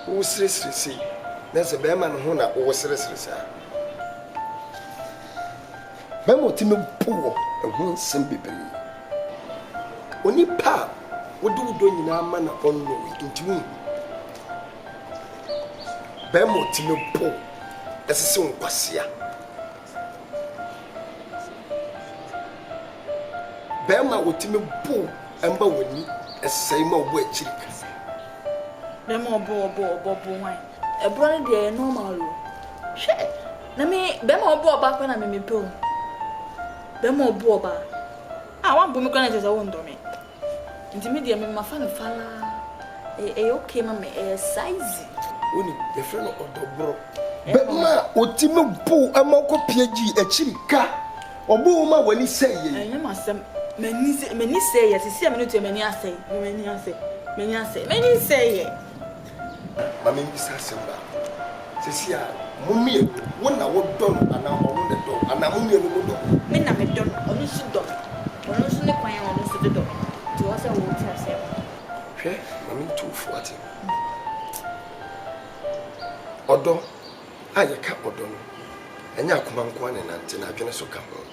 Woseresere sei, na sɛ bɛrima no ho na woseresere saa a, bɛrima a otumi po wo ho nsɛm bebree. Onipa a wode wo dɔ nyinaa ma na ɔnnɔ wo yi, nti wunhu. Bɛrima a otumi po wo, ɛsɛ sɛ wo nkwasea Bɛɛma a otumi bow mma w'ani sɛe ma ɔbɔ akyiri kɛse. Bɛɛma a ɔbɔ ɔbɔ ɔbɔ bo hwan? Ɛborɔ no deɛ ɛyɛ normal o. Hwɛ na me bɛɛma a ɔbɔ ɔbaa koraa na me mepɛ o. Bɛɛma a ɔbɔ ɔbaa. Ah w'anbɔ me koraa na kyerɛ sɛ wondɔ me. Nti me deɛ me mafa no falaa ɛyɛ okay ma me ɛyɛ saa easy. Wonim yɛfrɛ no ɔdɔ borɔ. Bɛrima a ɔti no buu ma ɔkɔ PhD akyiri ka ɔbuu wo ma w'ani sɛeɛ yi. Ɛnyɛ m'asɛm m'ani sɛ m'ani sɛeɛ sɛsɛ a me ne wo te yi m'ani asɛe m'ani asɛe m'ani asɛe m'ani nsɛeɛ. Ma mimmisa asɛm baako. Seesei a, mo mmienu, wo na wodɔ no anaa ɔno na ɛdɔ wo? Anaa mo mmienu modɔ no? Me na medɔ no, ɔno nso dɔ me. Ɔno nso ne kwan a ɔno nso de dɔ me no, nti ɛwɔ sɛ wote aseɛ ma no. Hwɛ, ma mentu wo fo, wate? Ɔdɔ a yɛka ɔdɔ no, ɛnyɛ akoma nko ara na ɛnante, na adwene nso ka ho.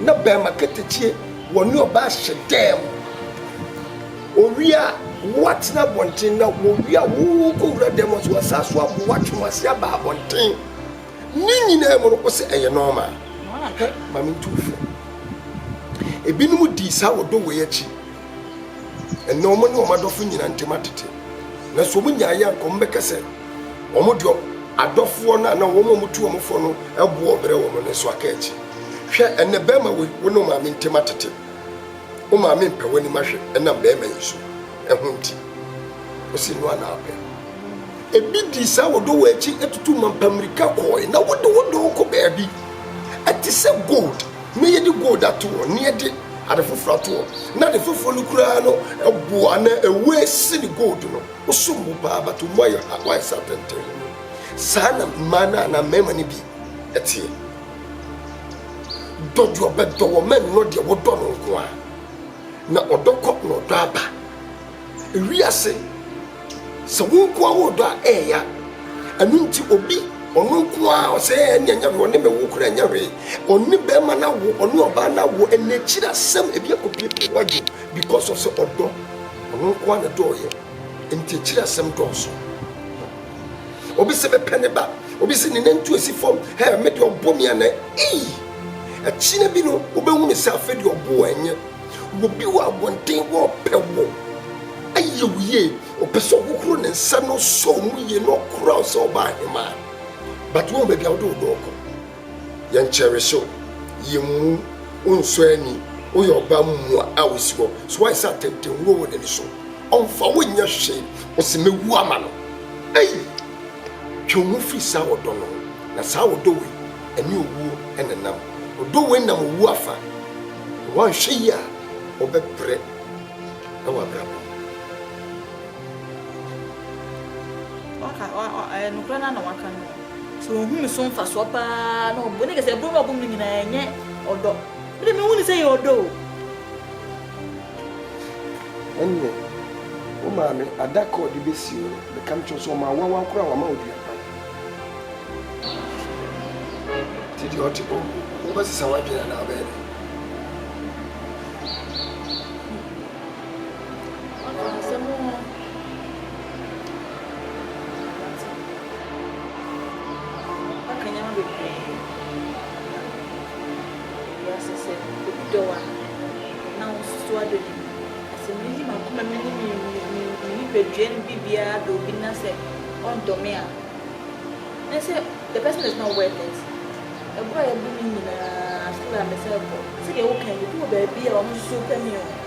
Na bɛɛma katakyie wɔne ɔbaa hyɛ dɛɛ mo owia a wɔatena abɔnten na wɔwia a wɔkɔwura dɛɛ mo so wɔsan so abo wɔatwe mo ase aba abɔnten ne nyinaa mu no wo sɛ ɛyɛ nɔɔma hɛ ma mentu wo fo ebinom dii saa wɔ dɔ wei akyi ɛnɛ wɔn ne wɔn adɔfo nyinaa ntem atete na so wɔn nyaa yɛ anka wɔn bɛka sɛ wɔn deɛ adɔfoɔ no anaa wɔn a wɔtu wɔn fo no ɛboɔ brɛ wɔn ne so aka akyi. Hwɛ, ɛnnɛ bɛɛma woi, wo ne wo maame ntem atete. Wo maame mpɛ w'anim ahwɛ ɛnam bɛɛma yi so, ɛho nti. Ose no ara na apɛ. Ebi dii saa wɔ dɔwɔ akyi atutu mampa mmirika kɔɔe, na wode wo dɔwɔ kɔ baabi. Ɛte sɛ gold, na yɛde gold ato hɔ, na yɛde ade foforo ato hɔ, na ade foforo no koraa no ɛboɔ anaa ɛwue sene gold no. Wosom bo paa, but wo mu ayɛ ha, woayɛ sɛ atɛntɛnhene. Saa na mmaa no anaa mmarima no bi teɛ. Dɔ deɛ ɔbɛdɔ wɔ ma nnɔ deɛ wodɔ no nko a na ɔdɔ kɔ na ɔdɔ aba ewiase sɛ wo nko a wodɔ a ɛɛya ɛno nti obi ɔno nko a ɔsɛ ɛne ɛnyɛ hwee ɔne me wo kora ɛnyɛ hwee ɔne bɛrima no awo ɔne ɔbaa no awo ɛna akyiri asɛm ebi akɔpiepie wadwo because of sɛ ɔdɔ ɔno nko a na dɔɔyɛ nti akyiri asɛm dɔɔso obi se mepɛ ne ba obi se ne nantu asi fam hɛ me deɛ ɔbɔ me anɛ ii akyina bi no wobɛhunu sɛ afei deɛ ɔbo wɔ ɛnyɛ wɔbi wɔ abɔnten wɔpɛ wɔ ayɛ wo yie ɔpɛ sɛ ɔhohoro ne nsa na ɔsɔ mu yie na ɔkora wo sɛ ɔbaa hemaa but wɔn baabi a wode wo dɔɔ kɔ Yɛnkyɛre so, yemmu wo nsɔ ani, woyɛ ɔbaa mua a osi hɔ. So woayɛ sɛ atɛntɛnhuro wɔ n'ani so? Ɔmfa wo nyɛ hwee, ose mewu ama no. Ei! Twe wo ho firi saa ɔdɔ no ho, na saa ɔdɔ wei, ɛne owuo na ɛnam. Ɔdɔ wei nam owuo afa, na woanhwɛ yie a, wobɛbrɛ wɔ abrabɔ mu. Waka, ɔ, ɔ, ɛyɛ nokorɛ no ara na waka no. So ohu me so mfasoɔ paa na ɔbom? Ɛne kɛ sɛ ɛbom na ɔbom no nyinaa ɛnyɛ ɔdɔ. Me de menhu no sɛ ɛyɛ ɔdɔ o. Ɛneɛ wo maame ada kɛ ɔde bɛsi wo no meka mekyerɛ wo sɛ ɔma awawa koraa wama wo dua kwan. Nti deɛ ɔte bɔ wo bɛsesa w'adwene anaa wobɛyɛ dɛn? Waka asɛm oo. Waka nneɛma bebree ama wiase sɛ obi dɔ wo a, na wosusu w'adɔ no mu. Na sɛ midi m'akoma mu ne me nipadua mu biribiara dɔ obi na sɛ ɔndɔ me a, na sɛ the person is not worth it. Ɛbo a yɛbo no nyinaa so a mɛsan akɔ. Sɛdeɛ wokae no, ebi wɔ baabi a wɔsusu pɛ me o.